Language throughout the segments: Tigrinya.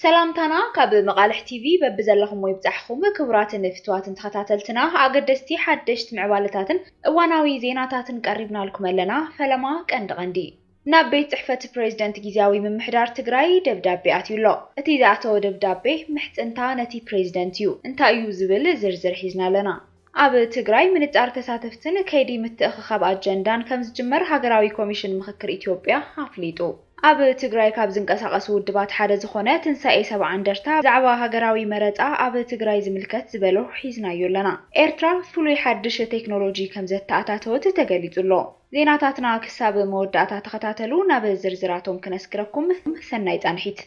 ሰላምታና ካብ መቓልሕ ቲቪ በብዘለኹሞ ይብጻሕኹም ክቡራትን ፍትዋትን ተኸታተልትና ኣገደስቲ ሓደሽት ምዕባለታትን እዋናዊ ዜናታትን ቀሪብናልኩም ኣለና ፈለማ ቀንዲ ቀንዲ ናብ ቤት ጽሕፈት ፕሬዝደንት ጊዚያዊ ምምሕዳር ትግራይ ደብዳቤ ኣትዩ ኣሎ እቲ ዝኣተወ ደብዳቤ ምሕጽንታ ነቲ ፕሬዝደንት እዩ እንታይ እዩ ዝብል ዝርዝር ሒዝና ኣለና ኣብ ትግራይ ምንጣር ተሳተፍትን ከይዲ ምትእኽኻብ ኣጀንዳን ከምዝጅመር ሃገራዊ ኮሚሽን ምኽክር ኢትዮጵያ ኣፍሊጡ። ኣብ ትግራይ ካብ ዝንቀሳቐሱ ውድባት ሓደ ዝኾነ ትንሳኤ ሰብዓ እንደርታ ብዛዕባ ሃገራዊ መረፃ ኣብ ትግራይ ዝምልከት ዝበሎ ሒዝናዮ ኣለና። ኤርትራ ፍሉይ ሓድሽ ቴክኖሎጂ ከምዘተኣታተወት ተገሊፁ ኣሎ። ዜናታትና ክሳብ መወዳእታ ተኸታተሉ፣ ናብ ዝርዝራቶም ክነስግረኩም። ሰናይ ፃንሒት።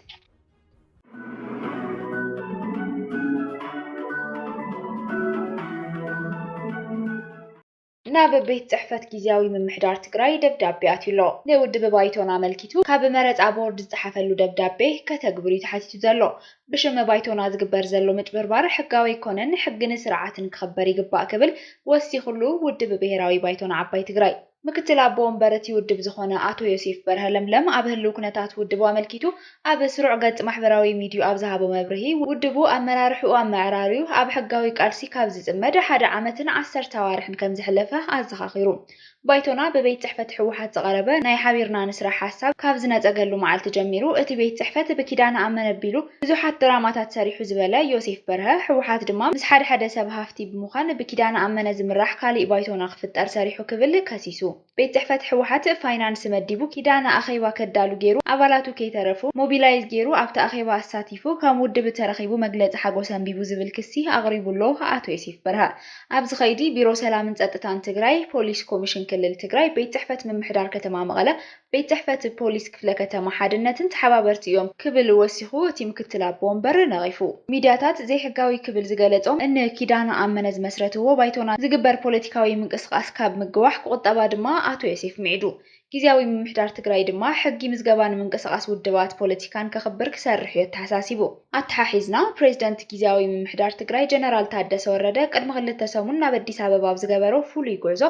ናብ ቤት ፅሕፈት ጊዚያዊ ምምሕዳር ትግራይ ደብዳቤ ኣትዩ ኣሎ። ንውድብ ባይቶና ኣመልኪቱ ካብ መረፃ ቦርድ ዝፀሓፈሉ ደብዳቤ ከተግብር እዩ ተሓቲቱ ዘሎ። ብሽም ባይቶና ዝግበር ዘሎ ምጭብርባር ሕጋዊ ኣይኮነን፣ ሕግን ስርዓትን ክኽበር ይግባእ ክብል ወሲኹሉ ውድብ ብሄራዊ ባይቶና ዓባይ ትግራይ። ምክትል ኣቦ ወንበር እቲ ውድብ ዝኾነ ኣቶ ዮሴፍ በርሀ ለምለም ኣብ ህልው ኩነታት ውድቡ ኣመልኪቱ ኣብ ስሩዕ ገፅ ማሕበራዊ ሚዲይኡ ኣብ ዝሃቦ መብርሂ ውድቡ ኣመራርሕኡ ኣመዕራርዩ ኣብ ሕጋዊ ቃልሲ ካብ ዝፅመድ ሓደ ዓመትን ዓሰርተ ኣዋርሕን ከምዝሐለፈ ኣዘኻኺሩ። ባይቶና ብቤት ፅሕፈት ህወሓት ዝቐረበ ናይ ሓቢርና ንስራሕ ሓሳብ ካብ ዝነፀገሉ መዓልቲ ጀሚሩ እቲ ቤት ፅሕፈት ብኪዳነ ኣመነቢሉ ብዙሓት ድራማታት ሰሪሑ ዝበለ ዮሴፍ በርሀ፣ ህወሓት ድማ ምስ ሓደ ሓደ ሰብ ሃፍቲ ብምዃን ብኪዳነ ኣመነ ዝምራሕ ካሊእ ባይቶ ንኽፍጠር ሰሪሑ ክብል ከሲሱ። ቤት ፅሕፈት ህወሓት ፋይናንስ መዲቡ፣ ኪዳነ ኣኼባ ከዳሉ ገይሩ፣ ኣባላቱ ከይተረፉ ሞቢላይዝ ገይሩ ኣብቲ ኣኼባ ኣሳቲፉ፣ ከም ውድብ ተረኺቡ መግለፂ ሓጎስ ኣንቢቡ ዝብል ክሲ ኣቕሪቡ'ሎ ኣቶ ዮሴፍ በርሀ። ኣብዚ ከይዲ ቢሮ ሰላምን ፀጥታን ትግራይ፣ ፖሊስ ኮሚሽን ክልል ትግራይ፣ ቤት ፅሕፈት ምምሕዳር ከተማ መቐለ፣ ቤት ፅሕፈት ፖሊስ ክፍለ ከተማ ሓድነትን ተሓባበርቲ እዮም ክብል ወሲኹ እቲ ምክትል ኣቦ ወንበር ነቒፉ። ሚድያታት ዘይሕጋዊ ክብል ዝገለፆም እኒ ኪዳነ ኣመነ ዝመስረትዎ ባይቶና ዝግበር ፖለቲካዊ ምንቅስቓስ ካብ ምግዋሕ ክቑጠባ ድማ ኣቶ ዮሴፍ ሚዒዱ ጊዚያዊ ምምሕዳር ትግራይ ድማ ሕጊ ምዝገባን ምንቅስቓስ ውድባት ፖለቲካን ከኽብር ክሰርሕ እዩ ኣተሓሳሲቡ። ኣተሓሒዝና ፕሬዚደንት ጊዚያዊ ምምሕዳር ትግራይ ጀነራል ታደሰ ወረደ ቅድሚ ክልተ ሰሙን ናብ ኣዲስ ኣበባ ኣብ ዝገበሮ ፍሉይ ጉዕዞ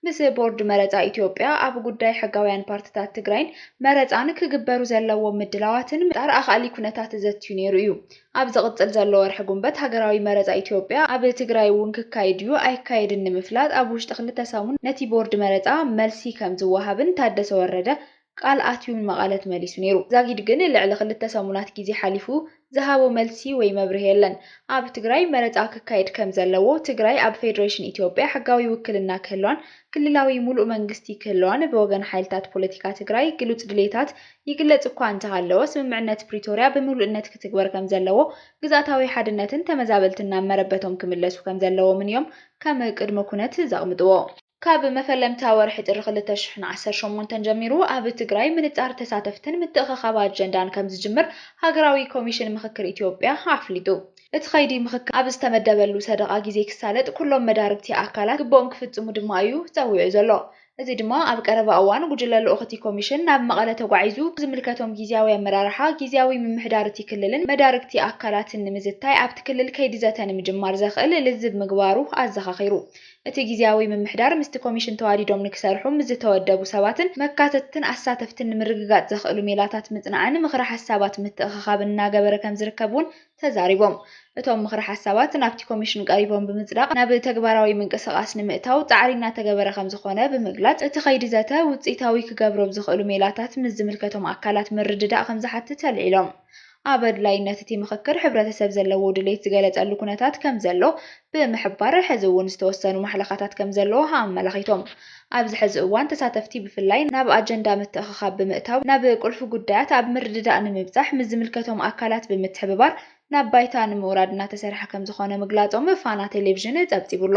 ምስ ቦርድ መረፃ ኢትዮጵያ ኣብ ጉዳይ ሕጋውያን ፓርቲታት ትግራይን መረፃን ክግበሩ ዘለዎም ምድላዋትን ንምፍጣር ኣኻእሊ ኩነታት ዘትዩ ነይሩ እዩ። ኣብ ዝቕፅል ዘሎ ወርሒ ጉንበት ሃገራዊ መረፃ ኢትዮጵያ ኣብ ትግራይ እውን ክካየድ ድዩ ኣይካየድን ንምፍላጥ ኣብ ውሽጢ ክልተ ሰሙን ነቲ ቦርድ መረፃ መልሲ ከምዝወሃብን ታደሰ ወረደ ቃል ኣትዩ ንመቐለ ተመሊሱ ነይሩ። ዛጊድ ግን ልዕሊ ክልተ ሰሙናት ግዜ ሓሊፉ ዝሃቦ መልሲ ወይ መብርሂ የለን። ኣብ ትግራይ መረፃ ክካየድ ከም ዘለዎ፣ ትግራይ ኣብ ፌደሬሽን ኢትዮጵያ ሕጋዊ ውክልና ክህልዋን ክልላዊ ሙሉእ መንግስቲ ክህልዋን ብወገን ሓይልታት ፖለቲካ ትግራይ ግሉፅ ድልየታት ይግለፅ እኳ እንተሃለወ ስምምዕነት ፕሪቶርያ ብምሉእነት ክትግበር ከም ዘለዎ ግዝኣታዊ ሓድነትን ተመዛበልትን ናብ መረበቶም ክምለሱ ከም ዘለዎምን እዮም ከም ቅድመ ኩነት ዘቕምጥዎ። ካብ መፈለምታ ወርሒ ጥሪ ክልተ ሽሕን ዓሰርተ ሸሞንተን ጀሚሩ ኣብ ትግራይ ምንፃር ተሳተፍትን ምትእኸኻብ ኣጀንዳን ከምዝጅምር ሃገራዊ ኮሚሽን ምኽክር ኢትዮጵያ ኣፍሊጡ። እቲ ከይዲ ምኽክር ኣብ ዝተመደበሉ ሰደቓ ግዜ ክሳለጥ ኩሎም መዳርግቲ ኣካላት ግቡኦም ክፍፅሙ ድማ እዩ ፀዊዑ ዘሎ። እዚ ድማ ኣብ ቀረባ እዋን ጉጅለ ልኡኽ እቲ ኮሚሽን ናብ መቐለ ተጓዒዙ ዝምልከቶም ጊዚያዊ ኣመራርሓ ጊዚያዊ ምምሕዳር እቲ ክልልን መዳርግቲ ኣካላትን ንምዝታይ ኣብቲ ክልል ከይዲ ዘተ ንምጅማር ዘኽእል ልዝብ ምግባሩ ኣዘኻኺሩ። እቲ ግዝያዊ ምምሕዳር ምስቲ ኮሚሽን ተዋዲዶም ንክሰርሑ ምስ ዝተወደቡ ሰባትን መካተትትን ኣሳተፍትን ንምርግጋፅ ዘኽእሉ ሜላታት ምፅናዕን ምኽረ ሓሳባት ምትእኽኻብን እናገበረ ከምዝርከብ እውን ተዛሪቦም። እቶም ምኽረ ሓሳባት ናብቲ ኮሚሽን ቀሪቦም ብምፅዳቕ ናብ ተግባራዊ ምንቅስቓስ ንምእታው ፃዕሪ እናተገበረ ከምዝኾነ ብምግላፅ፣ እቲ ከይዲ ዘተ ውፅኢታዊ ክገብሮ ብዝኽእሉ ሜላታት ምስ ዝምልከቶም ኣካላት ምርድዳእ ከምዝሓትት ኣልዒሎም። ኣብ ኣድላይነት እቲ ምኽክር ሕብረተሰብ ዘለዎ ድሌት ዝገለፀሉ ኩነታት ከምዘሎ ብምሕባር፣ ሕዚ እውን ዝተወሰኑ ማሕለኻታት ከምዘለዉ ኣመላኺቶም። ኣብዚ ሕዚ እዋን ተሳተፍቲ ብፍላይ ናብ ኣጀንዳ ምትእኽኻብ ብምእታው ናብ ቁልፊ ጉዳያት ኣብ ምርድዳእ ንምብፃሕ ምስ ዝምልከቶም ኣካላት ብምትሕብባር ናብ ባይታ ንምውራድ እናተሰርሐ ከምዝኾነ ምግላፆም ፋና ቴሌቪዥን ፀብፂቡ'ሎ።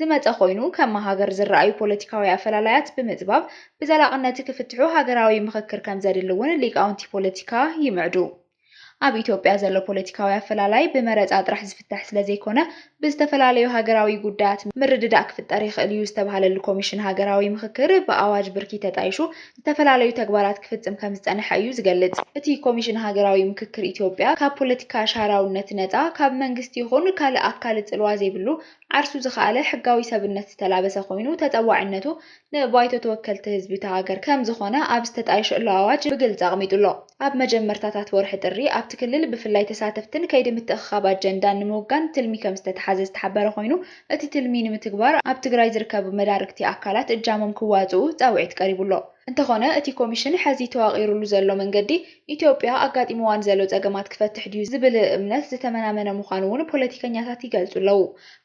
ዝመጸ ኮይኑ፣ ከም መሃገር ዝረኣዩ ፖለቲካዊ ኣፈላላያት ብምጽባብ ብዘላቕነት ክፍትሑ ሃገራዊ ምኽክር ከምዘድሊ እውን ሊቃውንቲ ፖለቲካ ይምዕዱ። ኣብ ኢትዮጵያ ዘሎ ፖለቲካዊ ኣፈላላይ ብመረጻ ጥራሕ ዝፍታሕ ስለዘይኮነ፣ ብዝተፈላለዩ ሃገራዊ ጉዳያት ምርድዳእ ክፍጠር ይኽእል እዩ ዝተብሃለሉ ኮሚሽን ሃገራዊ ምኽክር፣ ብኣዋጅ ብርኪ ተጣይሹ ዝተፈላለዩ ተግባራት ክፍጽም ከምዝጸንሐ እዩ ዝገልጽ። እቲ ኮሚሽን ሃገራዊ ምኽክር ኢትዮጵያ ካብ ፖለቲካ ሻራውነት ነጻ፣ ካብ መንግስቲ ይኹን ካልእ ኣካል ጽልዋ ዘይብሉ፣ ዓርሱ ዝኸኣለ ሕጋዊ ሰብነት ዝተላበሰ ኮይኑ ተጠዋዒነቱ ንባይቶ ተወከልቲ ህዝቢ እታ ሃገር ከም ዝኾነ ኣብ ዝተጣየሸሉ ኣዋጅ ብግልፂ ኣቕሚጡ ኣሎ። ኣብ መጀመርታታት ወርሒ ጥሪ ኣብቲ ክልል ብፍላይ ተሳተፍትን ከይዲ ምትእኽኻብ ኣጀንዳን ንምውጋን ትልሚ ከም ዝተትሓዘ ዝተሓበረ ኮይኑ እቲ ትልሚ ንምትግባር ኣብ ትግራይ ዝርከቡ መዳርግቲ ኣካላት እጃሞም ክዋፅኡ ፃውዒት ቀሪቡ ኣሎ። እንተኾነ እቲ ኮሚሽን ሐዚ ተዋቒሩሉ ዘሎ መንገዲ ኢትዮጵያ ኣጋጢሙዋ ንዘሎ ፀገማት ክፈትሕ ድዩ ዝብል እምነት ዝተመናመነ ምዃኑ እውን ፖለቲከኛታት ይገልፁ ኣለው።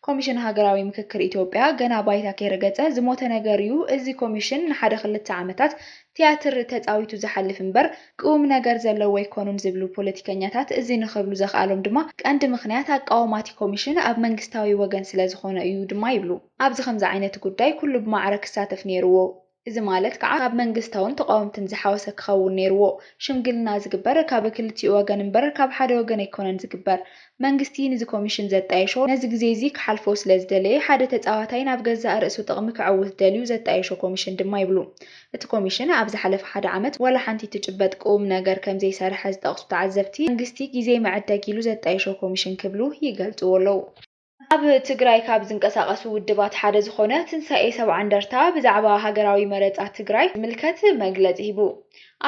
ኮሚሽን ሃገራዊ ምክክር ኢትዮጵያ ገና ባይታ ከይረገፀ ዝሞተ ነገር እዩ። እዚ ኮሚሽን ንሓደ ክልተ ዓመታት ትያትር ተፃዊቱ ዝሓልፍ እምበር ቅውምነገር ዘለዎ ኣይኮኑን ዝብሉ ፖለቲከኛታት እዚ ንኽብሉ ዘኽኣሎም ድማ ቀንዲ ምኽንያት ኣቃውማ እቲ ኮሚሽን ኣብ መንግስታዊ ወገን ስለዝኾነ እዩ ድማ ይብሉ። ኣብዚ ከምዚ ዓይነት ጉዳይ ኩሉ ብማዕረ ክሳተፍ ነይሩዎ። እዚ ማለት ከኣ ካብ መንግስታውን ተቓወምትን ዝሓወሰ ክኸውን ነይርዎ። ሽምግልና ዝግበር ካብ ክልቲኡ ወገን እምበር ካብ ሓደ ወገን ኣይኮነን ዝግበር። መንግስቲ ንዚ ኮሚሽን ዘጣየሾ ነዚ ግዜ'ዚ ክሓልፎ ስለ ዝደለየ ሓደ ተጻዋታይ ናብ ገዛእ ርእሱ ጥቕሚ ከዕውት ደልዩ ዘጣየሾ ኮሚሽን ድማ ይብሉ። እቲ ኮሚሽን ኣብ ዝሓለፈ ሓደ ዓመት ዋላ ሓንቲ ትጭበጥ ቅውም ነገር ከም ዘይሰርሐ ዝጠቕሱ ተዓዘብቲ፣ መንግስቲ ግዜ መዐደጊ ኢሉ ዘጣየሾ ኮሚሽን ክብሉ ይገልጽዎ ኣለዉ። ኣብ ትግራይ ካብ ዝንቀሳቐሱ ውድባት ሓደ ዝኾነ ትንሳኤ ሰብዓ እንደርታ ብዛዕባ ሃገራዊ መረፃ ትግራይ ዝምልከት መግለፂ ሂቡ።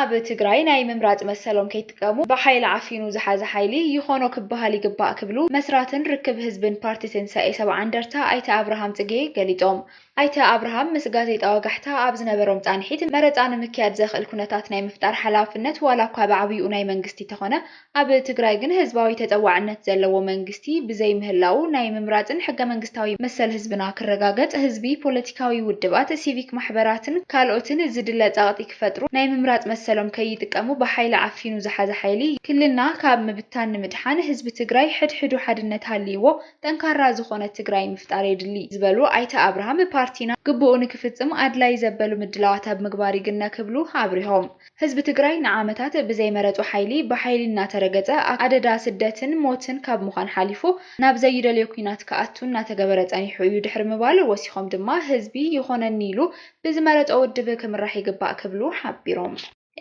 ኣብ ትግራይ ናይ ምምራፅ መሰሎም ከይጥቀሙ ብሓይሊ ዓፊኑ ዝሓዘ ሓይሊ ይኾኖ ክበሃል ይግባእ ክብሉ መስራትን ርክብ ህዝብን ፓርቲ ትንሳኤ ሰብዓ እንደርታ ኣይተ ኣብርሃም ፅጌ ገሊፆም። ኣይተ ኣብርሃም ምስ ጋዜጣ ወጋሕታ ኣብ ዝነበሮም ፃንሒት፣ መረፃ ንምክያድ ዘኽእል ኩነታት ናይ ምፍጣር ሓላፍነት ዋላ እኳ ብዓብይኡ ናይ መንግስቲ ተኾነ ኣብ ትግራይ ግን ህዝባዊ ተፀዋዕነት ዘለዎ መንግስቲ ብዘይምህላዉ ናይ ምምራፅን ሕገመንግስታዊ መሰል ህዝብና ክረጋገፅ ህዝቢ፣ ፖለቲካዊ ውድባት፣ ሲቪክ ማሕበራትን ካልኦትን ዝድለ ፀቕጢ ክፈጥሩ ናይ ምምራፅ መሰሎም ከይጥቀሙ ብሓይሊ ዓፊኑ ዝሓዘ ሓይሊ ክልልና ካብ ምብታን ንምድሓን ህዝቢ ትግራይ ሕድሕዱ ሓድነት ሃልይዎ ጠንካራ ዝኾነት ትግራይ ምፍጣር የድሊ ዝበሉ ኣይተ ኣብርሃም፣ ፓርቲና ግቡኡ ንክፍፅም ኣድላይ ዘበሉ ምድላዋት ኣብ ምግባር ይግነ ክብሉ ኣብሪሆም። ህዝቢ ትግራይ ንዓመታት ብዘይመረፆ ሓይሊ ብሓይሊ እናተረገፀ ኣደዳ ስደትን ሞትን ካብ ምዃን ሓሊፉ ናብ ዘይደልዮ ኲናት ክኣቱ እናተገበረ ፀኒሑ እዩ ድሕሪ ምባል ወሲኾም ድማ ህዝቢ ይኾነኒ ኢሉ ብዝመረፆ ውድብ ክምራሕ ይግባእ ክብሉ ሓቢሮም።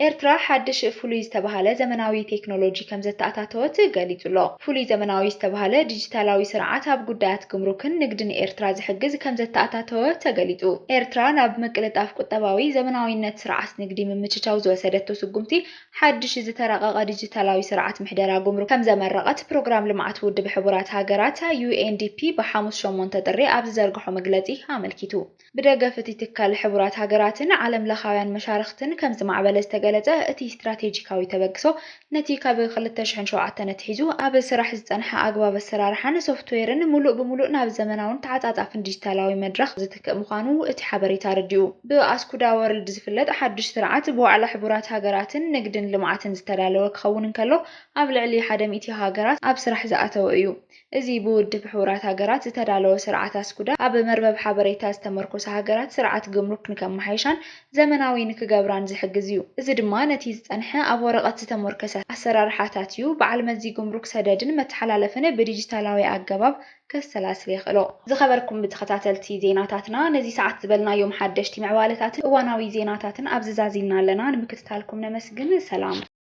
ኤርትራ ሓድሽ ፍሉይ ዝተበሃለ ዘመናዊ ቴክኖሎጂ ከምዘተኣታተወት ገሊጹ'ሎ። ፍሉይ ዘመናዊ ዝተበሃለ ዲጂታላዊ ስርዓት ኣብ ጉዳያት ግምሩክን ንግድን ኤርትራ ዝሕግዝ ከምዘተኣታተወ ተገሊጹ። ኤርትራ ናብ ምቅልጣፍ ቁጠባዊ፣ ዘመናዊነት ስርዓት ንግዲ ምምችቻው ዝወሰደቶ ስጉምቲ ሓድሽ ዝተራቐቐ ዲጂታላዊ ስርዓት ምሕደራ ጉምሩክ ከምዘመረቐት ፕሮግራም ልምዓት ውድብ ሕቡራት ሃገራት፣ UNDP፣ ብሓሙስ ሸሞንተ ጥሪ ኣብ ዝዘርግሖ መግለጺ ኣመልኪቱ። ብደገፍ እቲ ትካል ሕቡራት ሃገራትን ዓለም ለኻውያን መሻርኽትን ከም ዝማዕበለ ዝተገለፀ እቲ ስትራቴጂካዊ ተበግሶ ነቲ ካብ ክልተ ሽሕን ሸውዓተን ኣትሒዙ ኣብ ስራሕ ዝፀንሐ ኣግባብ ኣሰራርሓን ሶፍትዌርን ሙሉእ ብሙሉእ ናብ ዘመናውን ተዓፃፃፍን ዲጂታላዊ መድረኽ ዝትክእ ምዃኑ እቲ ሓበሬታ ኣረዲኡ። ብኣስኩዳ ወርልድ ዝፍለጥ ሓዱሽ ስርዓት ብዋዕላ ሕቡራት ሃገራትን ንግድን ልምዓትን ዝተዳለወ ክኸውን እንከሎ ኣብ ልዕሊ ሓደ ሚእቲ ሃገራት ኣብ ስራሕ ዝኣተወ እዩ። እዚ ብውድብ ሕቡራት ሃገራት ዝተዳለወ ስርዓት ኣስኩዳ ኣብ መርበብ ሓበሬታ ዝተመርኮሰ ሃገራት ስርዓት ግምሩክ ንከመሓይሻን ዘመናዊ ንክገብራን ዝሕግዝ እዩ። እዚ ድማ ነቲ ዝጸንሐ ኣብ ወረቐት ዝተሞርከሰ ኣሰራርሓታት እዩ በዓል መዚ ግምሩክ ሰደድን መተሓላለፍን ብዲጂታላዊ ኣገባብ ከሰላስል የኽእሎ። ዝኸበርኩም ብተኸታተልቲ ዜናታትና ነዚ ሰዓት ዝበልናዮም ሓደሽቲ ምዕባለታትን እዋናዊ ዜናታትን ኣብዚ ዛዚምና ኣለና ንምክትታልኩም ነመስግን ሰላም።